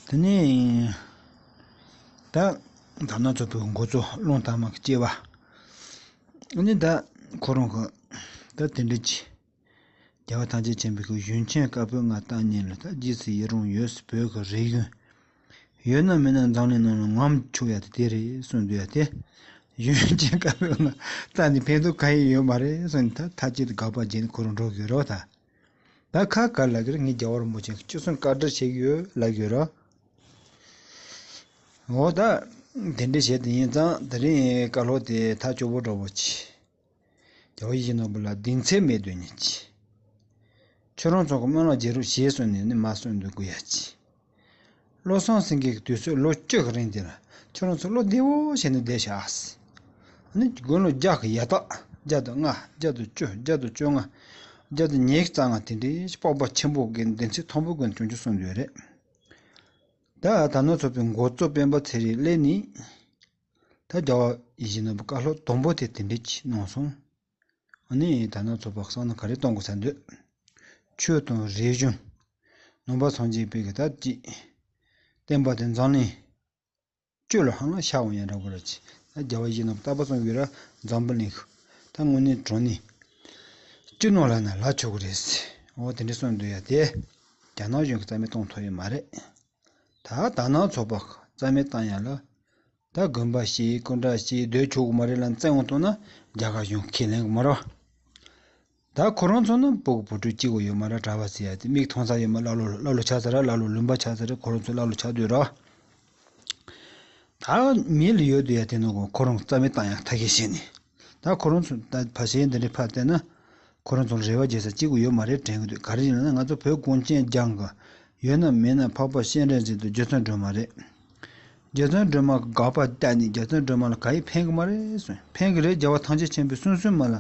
དེ་ནས་ད་དར་ནག་ཚོ་བོད་འགོ་ཚོ་སློང་དར་མ་གི་སྐྱེ་བ་ནི་ད་ཁོ་རང་གི་ད་དེ་འདྲ་གྱི་རྒྱལ་བ་ཐང་ཆེན་ཆེན་པོ་གི་གཞོན་ཆེན་དཀར་པོའི་ང་བཏང་ཉིན་ལ་ད་རྗེས་སུ་ཡི་རང་ཡོད་སི་བོད་གི་རིག་གཞུང་ཡོད་ན་མེད་ན་འཛམ་གླིང་ནང་ལ་ངམ་ཆུ་ཡ་དེ་རེད་གསུངས་འདུག་ཡ་དེ་གཞོན་སྐྱེས་དཀར་པོའི་ངག་རྩ་ནས་ཕན་ཐོག་ག་ཡིན་ཡོད་མ་རེད་གསུངས་ནས་ཐ་ཅི་ཏུ་དགག་པ་བརྗེད་ནས་ཁོ་རང་འགྲོ་གི་རོགས་ད་ད་ཁ་དཀར་ལགས་ཀྱིས་ངའི་རྒྱ་བོར་མོ་ཆེན་གཅིག་གསུངས་བཀའ་དྲིན་ཆེ་གི་ཡོད་ལབ་གི་རོགས་ད་དེ་འདྲ་བྱས་ཏེ་ཡིན་ཙང་ད་རིང་བཀའ་ལྷོག་དེ་ཐག་སྐྱོ་བོ་འདྲ་བོ་བྱས། རྒྱལ་བ་ཡེ་ཤེས་ནོར་བུ་ལ་གདིང་ཚད་མེད་དོན་གཉིས་ཀྱིས། ཁྱོད་རང་ཚོ་གི་སྨོན་ལམ་བརྗེ་རོགས་ཞེས་གསུངས་ནས་ནི་མ་གསུངས་འདུག་གུ་ཡ་ཅི། བློ་བཟང་སེང་གེ་གི་དུས་ཚོད་ལོ་བཅུ་གི་རིང་དེ་ལ་ཁྱོད་རང་ཚོ་བློ་བདེ་བོ་བྱས་ནས་བསྡད་ཤག་ཨཱ། ཨཱ་ནི་དགུང་ལོ་བརྒྱ་གི་ཡ་ཐག་བརྒྱ་དང་ལྔ་བརྒྱ་དང་བཅུ་བརྒྱ་དང་བཅོ་ལྔ་བརྒྱ་དང་ཉེར་གཙང་ང་དེ་འདྲའི་སྤོབས་པ་ཆེན་པོ་གི་འདི་ཚེ་ཐོང་པོ་ཀུན་བྱུང་ཆུ་སོང་འདོད་རེད། ད་ད་ནོར་ཚོ་པའི་མགོ་གཙོ་སྤེན་པ་ཚེ་རིང་ལས་ནི། ད་རྒྱ་བ་ཡིད་བཞིན་ནོར་བུ་བཀའ་སློབ་དང་པོ་དེ་དེ་འབྲེལ་གྱིས་གནང་སོང། ཨ་ནི་ད་ནངས་ཚོགས་པ་གསང་ན་ག་རེ་གཏོང་དགོས་ས་འདོད། ཆོས་དང་རིག་གཞུང། ནང་པ་ཚང་གཅིག་པའི་གི་ད་ཅིག། བསྟན་པ་དེ་འཛམ་གླིང། སྤྱོད་ལ་ཧང་ལ་ཤ་བོ་ཡང་འདྲ་པོ་ར་ཅི། ད་རྒྱ་བ་ཡིད་བཞིན་ནོར་བུ་རྟག་པ་གསུངས་གི་ར་འཛམ་བུ་གླིང་ཤུ། ད་དངོས་གནས་དྲང་གནས། སྤྱི་ནོར་ལ་ན་ལ་ཆོག་གི་རེད། འོ་དེ་འདྲའི་གསུངས་འདོད་ཡ་དེ། རྒྱ་ནག་གཞུང་གི་རྩ་མེད་གཏོང་ཐུབ་ཡོད་མ་རེད། ད་ད་ནང་ཚོགས་པ་རྩ་མེད་བཏང་ཡ་ལ། ད་དགོན་པ་ཞིག་སྐུ་འདྲ་ཞིག་སྡོད་ཆོག་གི་མ་རེད་ལ་བཙན་དབང་གཏོང་ན་རྒྱ་གར་གཞུང་ཁས་ལེན་གི་མ་རོ། ད་ཁོ་རང་ཚོ་ནང་སྤོ་གི་བུ་ཕྲུག་གཅིག་བ་ཡོད་མ་ར་གྲ་བ་ཟེ་ཡ་དེ་མིག་མཐོང་ས་ཡོད་མ་ཀླ་ཀློ་ཀླ་ཀློ་ཆགས་ས་ར་ཀླ་ཀློ་ལུང་པ་ཆགས་ས་ར་ཁོ་རང་ཚོ་ཀླ་ཀློ་ཆགས་དུས་ར། ད་མི་ལ་ཡོད་དུས་ཡ་དེ་ནང་གི་ཁོ་རང་རྩ་མེད་བཏང་ཡ་ཐ་གས་བཤད་ནས། ད་ཁོ་རང་ཚོ་ད་བར་ཆད་འདི་འདྲའི་ཕར་བལྟས་ན། ཁོ་རང་ཚོར་རེ་བ་རྒྱས་ས་གཅིག་པུ་ཡོད་མ་རེད་དྲན་གྱི་འདུག་ག་རེ་ཡིན་ན་ང་ཚོ་བོད་གངས་ཅན་ལྗང་གི། ཡོད་ན་མེད་ན་འཕགས་པ་གཤེན་རས་ཅན་དུ་རྒྱལ་མཚན་སྒྲོལ་མ་རེད། རྒྱལ་མཚན་སྒྲོལ་མ་གི་དགག་པ་བལྟས་ནས་རྒྱལ་མཚན་སྒྲོལ་མ་ལ་ག་ཡིས་ཕན་གི་མ་རེད་ཟེར་ཕན་གི་རེད་རྒྱལ་བ་ཐང་ཆེན་ཆེན་པོའི་སུན་སུན་མ་ལ་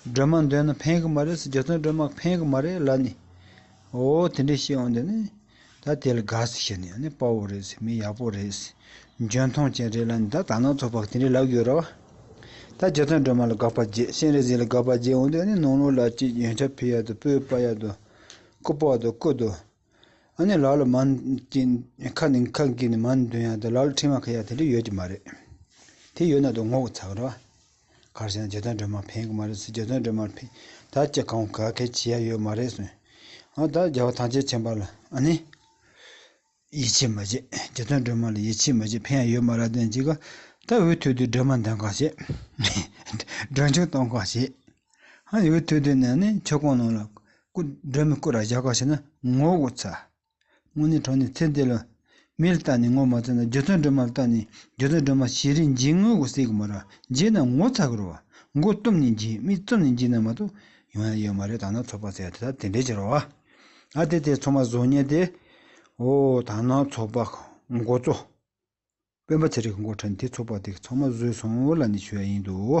སྒྲོལ་མ་འདོན་ན་ཕན་གི་མ་རེད་ཟེར་རྒྱལ་མཚན་སྒྲོལ་མ་གི་ཕན་གི་མ་རེད་ལབ་ནས་འོ་དེ་འདྲའི་བཤད་དབང་འདི་ནི། ད་དེ་ལ་དགའ་ཟེར་ཞེས་ནི་དཔའ་བོ་རེད་ཟེར་མི་ཡག་པོ་རེད། འཇོན་མཐོང་ཅན་རེད་ལ་ནི་ད་དར་ནག་ཚོགས་པ་དེ་འདྲའི་ལབ་ཡོད་རོགས། ད་རྗེ་བཙུན་སྒྲོལ་མ་ལ་དགག་པ་བརྒྱད་གཤེན་རིག་འཛིན་ལ་དགག་པ་བརྒྱད་འོང་དུས་ནི་ནང་ལོག་ལ་གཅིག་ཡོན་ཆབ་ཕི་ཡག་ཏུ་སྤོས་པ་ཡག་ཏུ། སྐུ་ཕག་ཏུ་སྐུ་ཏུ། ཨ་ནི་ལག་ལ་མར་གྱིན་ཁ་ནི་ཁ་གྱིན་མར་འདོན་ཡག་ཏུ་ལག་ལ་ཁྲིམས་ཡག་ཁ་ཡག་དེ་འདྲ་ཡོད་ཀྱི་མ་རེད། དེ་ཡོད་ན་དུ་ངོ་ག་ཚ་ག་རོགས། གར་བྱས་ན་རྗེ་བཙན་སྒྲོལ་མར་ཕན་གི་མ་རེད་ཟེར་རྗེ་བཙན་སྒྲོལ་མར་ཕན་ད་ཅི་གང་ག་གལ་ཆེ་ཡ་ཡོད་མ་རེད་ཟེར། ཨ་ད་རྒྱལ་བ་ཐང་ཆེན་ཆེན་པ་ལ་ཨ་ནི། ཡིད་ཆེས་མ་བྱེད་རྗེ་བཙན་སྒྲོལ་མ་ལ་ཡིད་ཆེས་མ་བྱེད་ཕན་ཡ་ཡོད་མ་ར་བདེན་གཅིག་ག་ད་འུ་ཐུག་དུས་སྒྲོལ་མ་འདོན་གང་བྱེད། སྒྲོལ་མཆོག་གཏོང་གང་བྱེད། ཨ་ནི་འུ་ཐུག་དུས་ནས་ཨ་ནི་ཆོལ་ཁོང་ནང་ལ་སྐུ་སྒྲོལ་མའི་སྐུ་ར་བཞག་གང་བྱེད་ན་ངོ་གོ་ཚ། དངོས་གནས་གྲོགས་ནི་ཚེ་འདི་ལ། མིར་བཏགས་ནས་ངོ་མ་ཚ་ན་རྒྱུ་མཚོན་སྒྲོན་མར་བཏགས་ནས་རྒྱུ་མཚོན་སྒྲོན་མ་བྱེད་རིན་འབྱིན་ངོ་གུ་སེ་གུ་མ་ར་འབྱེད་ན་ངོ་ཚ་གུ་རུ་བ་མགོ་བཏུམ་ནས་འབྱིན་མིག་བཙུམ་ནས་འབྱིན་ན་མ་གཏོགས་ཡོང་ཡ་ཡོད་མ་རེད་དང་ན་ཚོགས་པ་ཟེར་ཡ་དེ་དག་དེ་འདྲའི་ཕྱིར་རོ། ཨ་དེ་དེ་ཚོགས་མ་བཟོ་ཉེ་དེ། ཨོ་དང་ན་ཚོགས་པ་མགོ་གཙོ། དཔོན་པ་ཚེ་རིང་གི་མགོ་ཁྲ་ནས་དེ་ཚོགས་པ་དེ་གི་ཚོགས་མ་བཟོས་སོང་ལ་ནི་ཞུ་ཡ་ཡིན་འདུག།